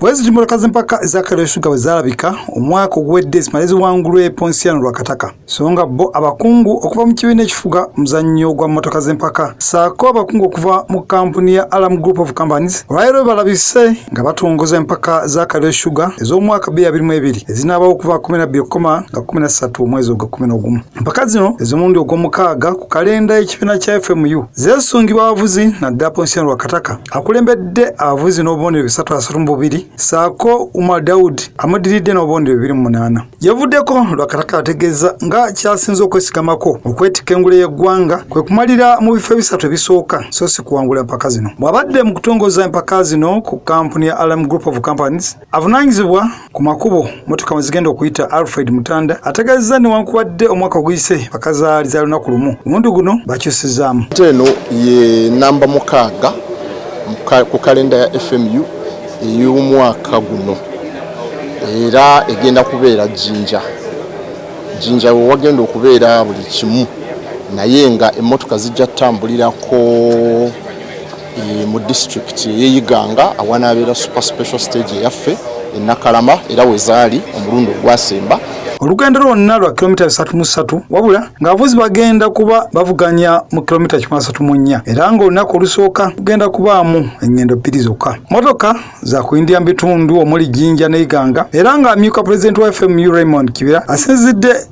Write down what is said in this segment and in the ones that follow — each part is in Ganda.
bwezitumbulakazi mpaka ezakalyoshuga bwe zaalabika omwaka oguwedde zimale ziwangulwa eponsiano lwa kataka so nga bo abakungu okuva mu kibiina ekifuga omuzannyo gwa mmotoka z'empaka saako abakungu okuva mu kampuni ya alam group of companies olwaleero balabise nga batongoza empaka za kalyoshuga ez'omwaka 22 ezinaabawo okuva 12 okukoma nga 13 omwezi ogwa 11 Mpaka zino ez'omulundi ogw'omukaaga ku kalenda y'ekibiina kya FMU zeesungibwa abavuzi naddala Ponsiano Lwakataka akulembedde abavuzi n'obubonero bisatu asatu mu bubiri saako Umar Daud amuddiridde n'obubonero bibiri mu munaana. Yavuddeko Lwakataka ategeeza nga kyasinze okwesigamako okwetikka engule y'eggwanga kwe kumalira mu bifo ebisatu ebisooka so si kuwangula empaka zino. Bw'abadde mu kutongoza empaka zino ku kampuni ya Alam Group of Companies Avunaanyizibwa ku makubo motoka mwezigenda okuyita Alfred Mutanda ategeezezza newankubadde omwaka oguyise bakazaali za lunaku lumu omulundi guno bakyusizaamu. Eno ye namba mukaaga ku kalenda ya FMU ey'omwaka guno era egenda kubeera Jinja. Jinja we wagenda okubeera buli kimu naye nga emmotoka zijja kutambulirako e, mu district eyeyiganga awanabeera super special stage eyaffe enakalama era wezaali omulundi ogwasemba olugendo lwonna lwa kilomita 33 wabula ng'abavuzi bagenda kuba bavuganya mu kilomita 34 era ng'olunaku olusooka kugenda kubaamu engendo bbiri zokka motoka za kuyindira mu bitundu omuli jinja ne iganga era ng'amyuka pulezidenti wa fmu raymond kibira asinzidde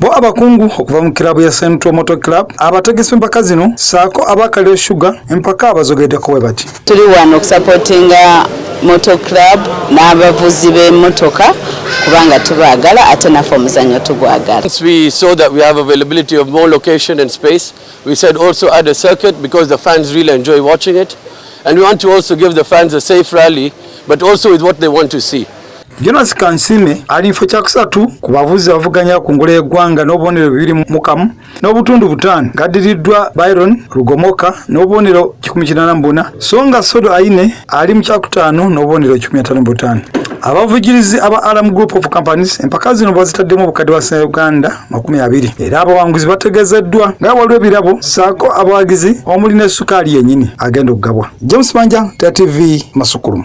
Bo abakungu okuva mu kiraabu ya Central Motor Club abategesi empaka zino saako aba Kaliro Sugar empaka abazogedeko bwe bati. Tuli wano okusapotinga Motor Club n'abavuzi b'emmotoka kubanga tubaagala ate naffe omuzannyo tugwagala. Once we saw that we have availability of more location and space, we said also add a circuit because the fans really enjoy watching it and we want to also give the fans a safe rally but also with what they want to see. Jonas Kansime ali mfo kyakusatu ku bavuzi abavuganya ku ngule y'eggwanga n'obubonero bibiri mu kamu n'obutundu butaano gaddiriddwa Byron Lugomoka n'obubonero kikumi kinaana mu buna so nga Sodo Aine ali mu kyakutaano n'obubonero kikumi ataano mu butaano abavujirizi aba Alam Group of Companies empaka zino bazitaddemu obukadde bwa Sena Uganda makumi abiri era abawanguzi bategezeddwa nga waliwo ebirabo saako abawagizi omuli ne sukaali yennyini agenda okugabwa James Manja, TV Masukulumu.